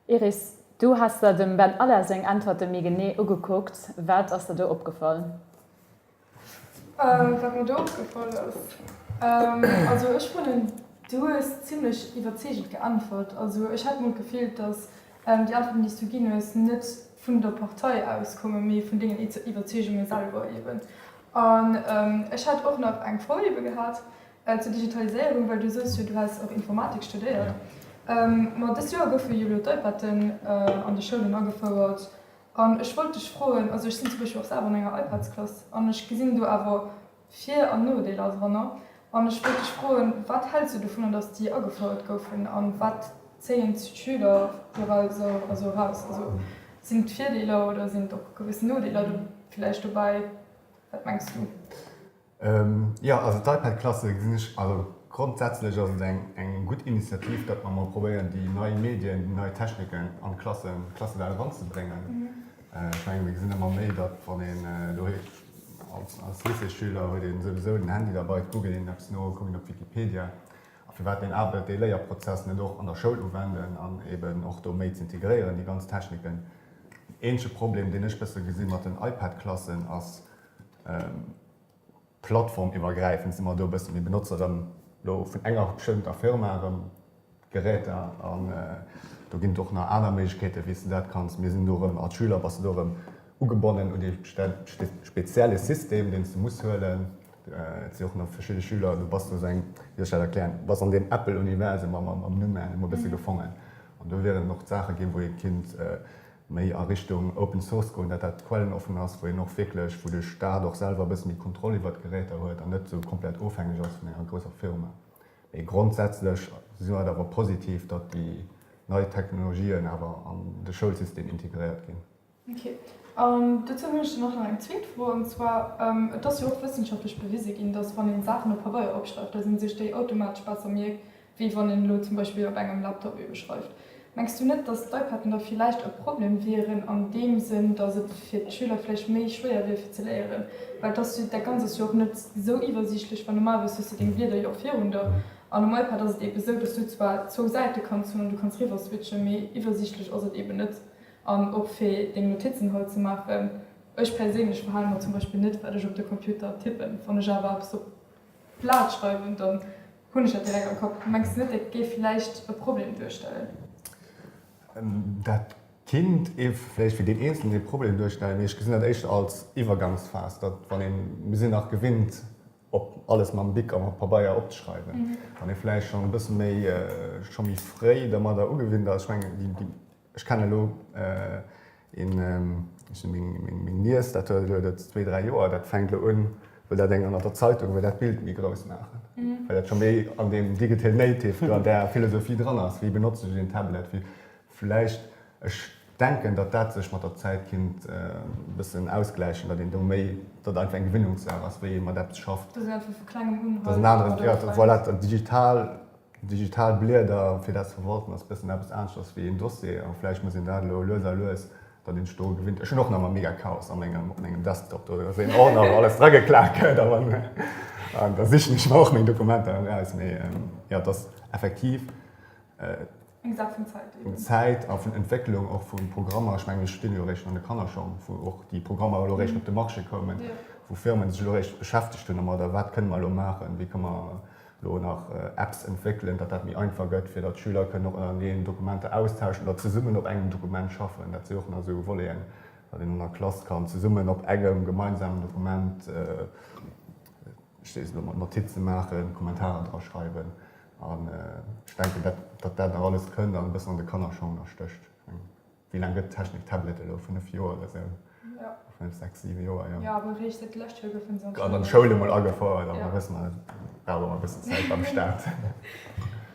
Iris, du has der dem Ben Aller seng Äntwerte méi genee ugekuckt. Wat ass der do opgefall? Wat mir do opgefall ass? Also ech fannen, du hues zimlech iwwerzeegend geäntwert. Also ech hat mol d'Gefill, datt déi Äntwerten, déi s du ginn hues, net vun der Partei aus kommen, mee vun dengen Iwwerzeegunge selwer eeben. An ech hätt och nach eng Froh eebe gehat, Zur Digitaliséierung, well du sous jo, du häss och Informatik studéiert. Ma dëst Joer goufe jo elo d'Ipaden an de Schoulen agefouert. An ech wollt dech froen, also ech sinn zum Beispill och selwer an enger Ipadsklass an ech gesinn do awer Vir an Nodeeler dranner. An ech wollt dech froen, wat häls du dovunner, datt déi agefouert goufen a wat zéien d'Schüler doraus also eraus? Also sinn et Virdeeler oder sinn et och gewëss Nodeeler do vläicht dobäi? Wat mengs du? Jo, also d'Ipad Klasse gesinn ech, also grondsätzlech ass et eng eng gutt Initiativ, datt mer emol probéieren déi nei Medien, déi nei Techniken an d'Klassen, d'Klassesäll eranzebréngen. Ech menge mir gesinn ëmmer méi, datt wann een doheem als als Lycéesschüler huet een souwisou den Handy derbei, et googelt een eppes no, kuckt een op Wikipedia a firwat een awer dee Léierprozess net och an der Schoul uwenden an eben och do méi ze integréieren déi ganz Techniken. Eenzege Problem deen ech bësse gesi mat den Ipad Klassen ass Plattformiwwergräifend si mer do e bësse méi benotze erëm elo vun enger bestëmmter Firma erëm d'Geräter an do ginn et och nach aner Méiglechkeete wéi s de dat kanns. Mir sinn do erëm als Schüler bass de do erëm ugebonnen un dee spezielle System deen s de muss huelen. Et si och nach verschidde Schüler, du bass do seng, wéi soll ech dat erklären, du bass an deem Apple-Universum am Numm emol e bësse gefongen an do wieren och d'Saache ginn, wou ee kinnt méi a Richtung Open Source goen, dat dat quellenoffen ass, wou een och wierklech, wou de Staat och selwer e bësse méi Kontroll iwwert d'Geräter huet an net esou komplett ofhängeg ass vun enger grousser Firma. Mee grondsätzlech si mer et awer positiv, datt déi nei Technologien awer an de Schoulsystem integréiert ginn. Ok. An dozou hunn ech dann och nach eng zweet Fro, an zwar, Et ass jo och wëssenschaftlech bewise ginn, datt wann ee Saachen op Pabeier opschreift, datt ee sech déi automatesch besser mierkt, wéi wann een elo zum Beispill op engem Laptop eebe schreift. Mengs du net, datt d'Ipaden da villäicht e Problem wieren an deem Sënn, datt et fir d'Schüler vläicht méi schwéier wier fir ze léieren, well datt du dat Ganzes jo och net sou iwwersiichtlech, well normalerweis hues du deng Blieder jo och virun der an um Ipad ass et eebe sou, datt du zwar zwou Säite kanns hunn an du kanns riwwer switchen, mee iwwersiichtlech ass et eebe net an och fir deng Notizen hei ze maachen, ech perséinlech verhale mer zum Beispill net wat ech op de Computer tippen, wann ech awer eppes op. Plat schreiwen, dann hunn ech dat direkt am Kapp. Mengs de net, dat géif vläicht e Problem duerstellen? Dat kinnt vläicht fir deen Eenzelen ee Problem duerstellen, mee ech gesinn dat éischter als Iwwergangsphas, datt wann een, mir sinn nach gewinnt op alles mam Bic a mam Pabeier opzeschreiwen, wann ee vläicht schonn e bësse méi, scho méi fréi dermadder ugewinnt ass, ech mengen déi Ech kenne lo een, meng Niess, dat huet elo dat zwee, dräi Joer, dat fänkt elo un, wëll dat eng an der Zeitung, wëll dat Bild méi grouss maachen, well dat scho méi an deem digital native, an där Philosophie dran ass, wéi benotze ech een Tablet, wéi vläicht. Ech denken, datt dat sech mat der Zäit kinnt e bëssen ausgläichen, datt een do méi, datt einfach eng Gewinungssaach ass, wéi ee mat eppes schafft. Datt een einfach vu Klengem un halt domat. Voilà, dat Digital Digital Blieder fir dat ze verwalten ass e bëssen eppes aneschters wéi een Dossier a vläicht muss een dat elo lues a lues dann hinne do gewinnt. Ech hunn och nach emmer mega Chaos a mengem, op mengem Desktop do, ass een Ordner wou alles drageklaakt gëtt a wann an da sichen ech mer och meng Dokumenter eraus. Mee jo, et ass effektiv. Eng Saach vun Zäit eben. Vun Zäit a vun Entwécklung och vu Programmer. Ech mengen, mir stinn elo eréischt an de Kannerschong, wou och déi Programmer elo eréischt op de Marché koumen, wou Firmen sech elo eréischt beschäftegt hunn domadder, wat kënne mer elo maachen, wéi kënne mer elo nach Apps entwéckelen, datt dat méi einfach gëtt, fir datt d'Schüler kënnen och ënnereneen Dokumenter austauschen oder zesummen op engem Dokument schaffen. Dat si och nach esou Voleten, datt een an der Klass kann zesummen op engem gemeinsamen Dokument, ech seet elo mol, Notize maachen, Kommentarer draschreiwen. An ech denken, datt dat nach alles kënnt an e bëssen an de Kannerschoner stécht. Ech mengen, wéi laang gëtt d'Technik Tablet elo? Fënnef Joer oder esou? Fënnef, sechs, siwe Joer, jo. Jo, awer eréischt sot d'lescht Joer goufe se an d'Schoul. An an d'Schoul emol agefouert. A mir wëssen alle, brauch ëmmer e bëssen Zäit beim Staat.